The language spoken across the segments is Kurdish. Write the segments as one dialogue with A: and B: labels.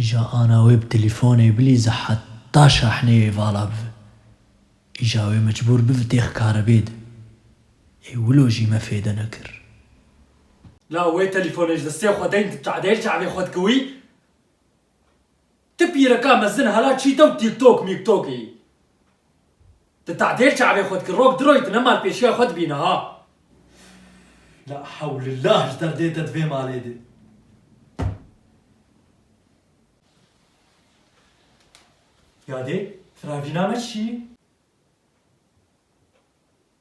A: Îja ana wê bi telîfonê bilî zi heta şahneyê vala bivi. Îja wê mecbûr bivi têx karebê di. Ê wilo jî me fêde nekir. La wê telîfonê ji destê xwe deyn tu çadêr çavê xwe dikiwî? Ti pîrika mezin hala çî dew tîktok mîktok î. Ti tadêr çavê xwe dikî rok diroyî ti ne malpêşiya xwe dibî niha. La hewlillah ji derdê te di vê malê de. Ya dê, firavîna me çi yî?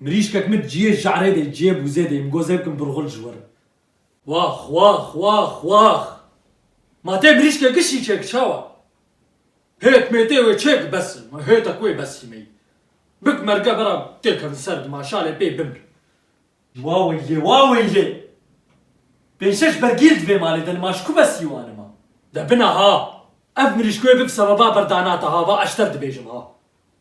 A: Mirîşkek min ciyê ja'rê de ciyê bûzê de imgo zê bikim burxul ji werin. Wax wax wax wax. Ma tê mirîşkê gişî çêk çawa? Hêt mêtê wê çêk bes in. Ma hêtek wê bes in mey. Bik merge bera tê kevin ser di ma şalê pê bimr. Wa weylê wa weylê. Pênc şeş bergîl di vê malê de in ma ji ku bes yî wan in ma. De bina ha. Ev mirîşk wê bib sebeba berdanata ha va eşter dibêjim ha.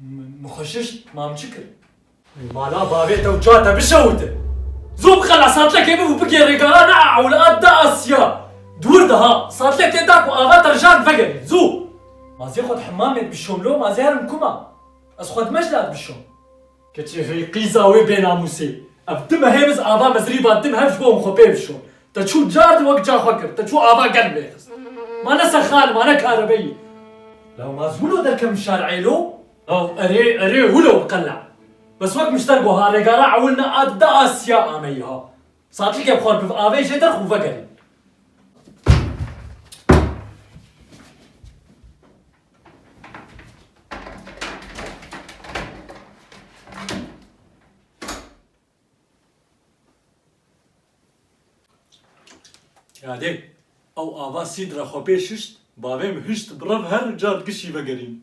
A: Min xwe şişt, mam çi kir? Li mala bavê te û çiya te bişewite. Zû bixe la satlekê biv û bigê rêgara ne a ewle a de a siya. Dûr de ha. Satlekê da ku ava te rijar vegerîn. Zû! Ma zê xwe di hemamê bişom lo, ma zê herim kuma. Ez xwe di meclê a dibişom. Keçî hey qîza wê bênamûsê. Ev tim e hêviz ava mezrîva tim hev ji bo him xwe pê bişon. Te çû card wek ca xwe kir, te çû ava gel bê xist. Ma ne sexan, ma ne karebeyî. Law ma ji wilo derkevim şar êlo? Law erê erê wilo qele'a. Bes wek mişter go ha regara ewil ne a di de a siya ameyî ha. Satlîkê bi xwe biv avê jê derx û vegerîn. Yadê, ew ava sîd re xwe pê şişt, bavê min hişt bi rev her car di kişî vegerîn.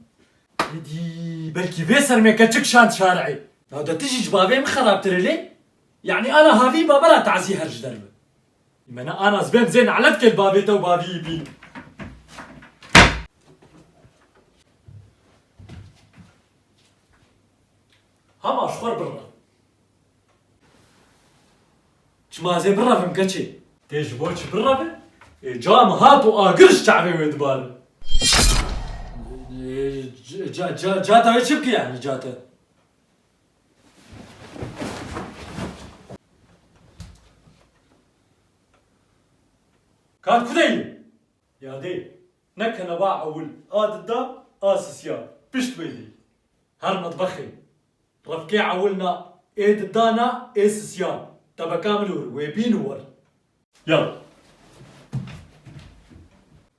A: Êdî, belkî vê sermê keçik şand şarî. Nade ti jî ji bavê min xerabtir î lê? Yanî ana havî bavera tazî her ji der bi. Mena Anas ben zê nalet kel bavê te û baviyî bîn. Hama ji xwe re birre. Çima ez ê birevim keçê? Tê ji bo çi bireve? Ê ca min hat û agir ji çavê wê dibare. Ca ca ca ca tayê çi bike yanî ca te? Kar ku de ye? Ya dê. Ne keneba ewil a dida a sisiya pişt wê dê. Her metbexê. Refkê ewil na ê dida na ê sisiya tebeka min û wê bîn û wir. Ya.